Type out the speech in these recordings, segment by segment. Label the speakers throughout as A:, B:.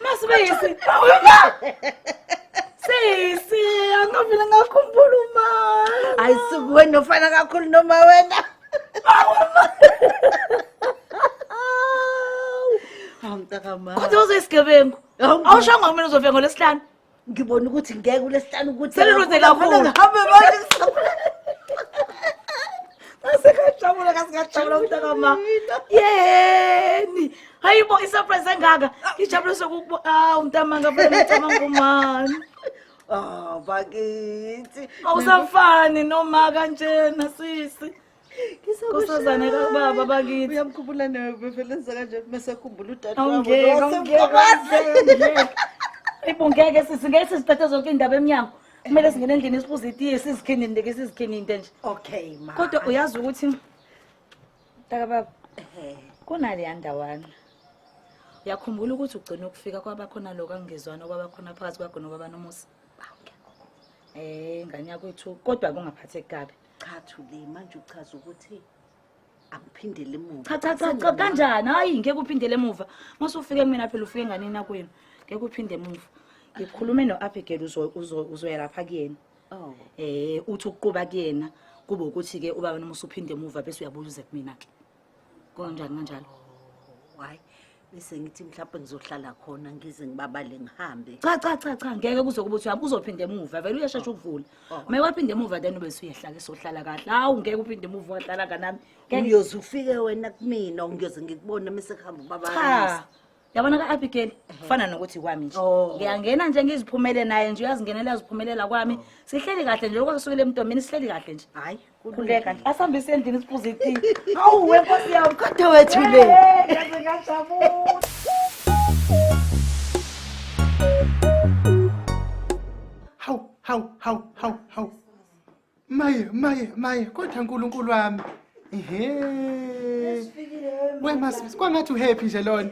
A: Masibisi. Sisi, angavile ngakhumbula uma. Hayi suku wena
B: ufana kakhulu noma wena. Hawu mntakamama. Kodwa uzoyisigebengu.
A: Awushanga kumina uzofika ngolesihlanu. ngibona ukuthi
B: ngeke kulesihlanu ukuthi Seliruze kakhulu. ngihambe
A: manje ngasekajabula kasikajabula mntakama yeni hayi bo isurprise engaka ngijabule sokukubo awu mntama ngavele ngicabanga umani oh bakithi
B: awusafani
A: noma kanjena sisi Nkosazane kababa bakithi. Uyamkhumbula nawe bevele
B: enza kanje mase khumbula udade wabo. Awungeke, awungeke, awungeke.
A: Ibu ngeke sisi ngeke siziphethe zonke indaba emnyango. Kumele singene endlini sibuze itiye sizikhinini ndeke sizikhinini into nje. Okay ma. Kodwa
B: uyazi ukuthi
A: Taka baba kunale yandawana. Uyakhumbula ukuthi ugcina ukufika kwaba khona lokho angizwana kwaba khona phakathi kwagona baba nomusa. Eh ngane yakwethu kodwa kungaphatheki kabi. cha thule
B: manje uchaza ukuthi akuphindele emuva cha cha cha cha kanjani
A: hayi ngeke uphindele emuva mase ufike kumina phela ufike nganini akwenu ngeke uphinde emuva ngikhulume no-abigail uzo- uzo- uzoya lapha kuyena oh eh uthi ukuquba kuyena kube ukuthi-ke ubaba noma usuphinde emuva bese uyabuya uze kumina-ke Konjani kanjalo? Why?
B: Bese ngithi mhlawumbe ngizohlala khona ngize ngibabale ngihambe. Cha cha cha cha ngeke
A: kuze kube uthi uzophinde emuva vele uyashesha ukuvula. Oh. Uma waphinde emuva then bese uyehlala sohlala kahle. Hawu ngeke uphinde emuva wahlala kanami. Uyoze ufike
B: wena kumina ngiyoze ngikubone mase kuhamba ubaba. Cha. yabona
A: ka-abigail kufana nokuthi kwami nje Oh. ngiyangena nje ngiziphumele naye nje uyazingenela uyaziphumelela kwami sihleli kahle nje lokho kusukile emntombini sihleli kahle nje hayi khuleka
B: nje asihambise
A: endlini siphuze iti awu we nkosi yami kodwa wethu le Eh,
B: ngaze ngajabula
C: hawu hawu hawu hawu hawu maye maye maye kodwa nkulunkulu wami ehe wemasisi kwangathi uhappy nje lona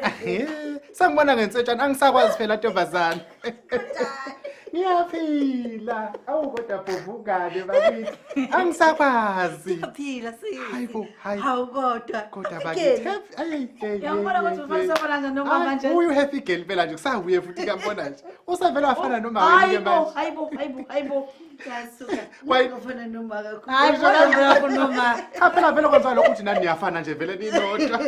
C: ehe sangibona ngensetshana angisakwazi phela ntombazane ngiyaphila awu kodwa bhovukane bakithi angisakwazi Phila sisi.
B: Hayi bo, hayi. Hawu
C: kodwa.
B: kodwa Asikeni.
C: bakithi ayi Yawubona
A: ukuthi ufana sobona kanjani noma manje? uyu happy girl phela
C: nje kusahuye futhi kuyambona nje usevele wafana nomama Hayi bo, hayi bo, hayi bo, hayi bo.
A: phela vele kwenza lokho
C: ukuthi nani niyafana nje vele ninodwa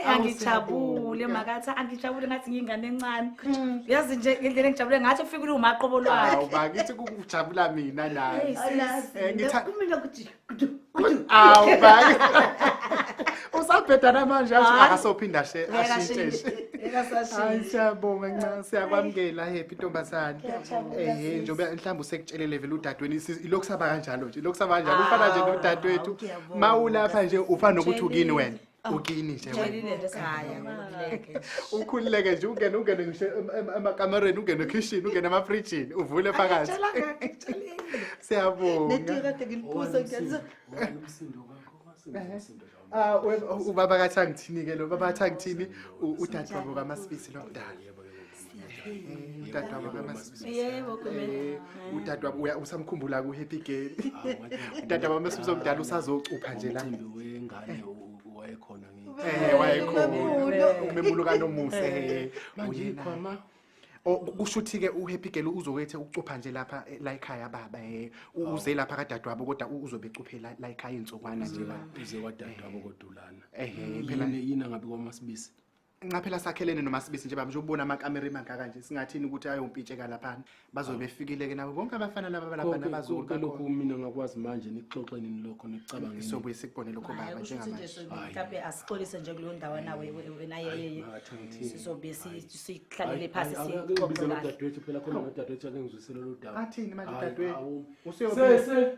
C: angijabule
A: makathi angijabule ngathi ngiyingane encane hmm. yazi nje ngendlela engijabule ngathi ufike uliwumaqobo lwakhe bakithi kukujabula
C: mina naye eh,
B: kumina ukuthi awu
C: bhaki usabhedana manje akasophinda she ashinteshe hayi siyabonga ncane siyakwamukela happy ntombazane ehe njengoba mhlawumbe usekutshelele vele udadweni ilokhu saba kanjalo nje ilokhu saba kanjalo ufana nje nodadewethu ma ulapha nje ufana nokuthi ukini wena ukini nje Ngijabulile nje ekhaya ngiluleke nje. ukhululeke nje ungene ungene ngisho em- em- emakamereni ungene ekhishini ungene emafrijini uvule phakathi Ngitshelanga ngitshelile. siyabonga Netiye kade ngiliphuza
B: ngiyaliza.
C: Ah, we- u- ubaba kathi angithini-ke lo baba kathi angithini u- udadewabo kamasibisi lomdala udadewabo kamasibisi yebo kumele
A: udadewabo uya
C: usamkhumbula ku happy girl udadewabo kamasibisi omdala usazocupha nje la umcimbi wengane
D: u- u- wayekhona ngithi eh wayekhona
C: umemulo kanomusa eh uyikho ma
D: Oh,
C: kusho ukuthi ke uhappy girl uzokwethe ukucupha nje lapha eh, la ekhaya baba eh U- uze lapha kadadewabo kodwa u- uzobe ecuphe la la ekhaya insukwana nje baba uze wadadewabo
D: kodulana ehe phela yini
C: yini angabi
D: kwamasibisi nqaphela sakhelene
C: nomasibisi nje bamnje ubona amakamera emangaka nje singathini ukuthi ayompitsheka laphana bazobe ah. befikileke nabo bonke abafana laba balaphana bazoke lokhu mina ngakwazi
D: manje nixoxe nini lokho nicabangeni sobuye sikubone lokho
C: baba njengamanje mhlawumbe asixolise
A: nje kuleyo ndawo nawe wena yeye sizobe sihlalele phansi sixoxe la dadwethu
D: phela khona dadwethu akengizwisela lo daba athini manje dadwethu
C: useyobese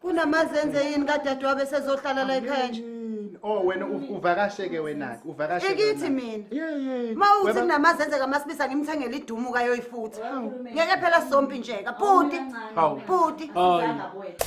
C: kunamazenze
B: yini kadadewabo esezohlala la ekhaya nje Yini? oh wena
C: u- uvakashe-ke wena-ke uvakashe ikithi mina
B: yeyini ma uthi
C: kunamazenze
B: kamasibisa ngimthengele idumu kayoyifuthi ngeke phela sompi njeka bhuti Hawu. bhuti Hayi. Sizanga kwethu.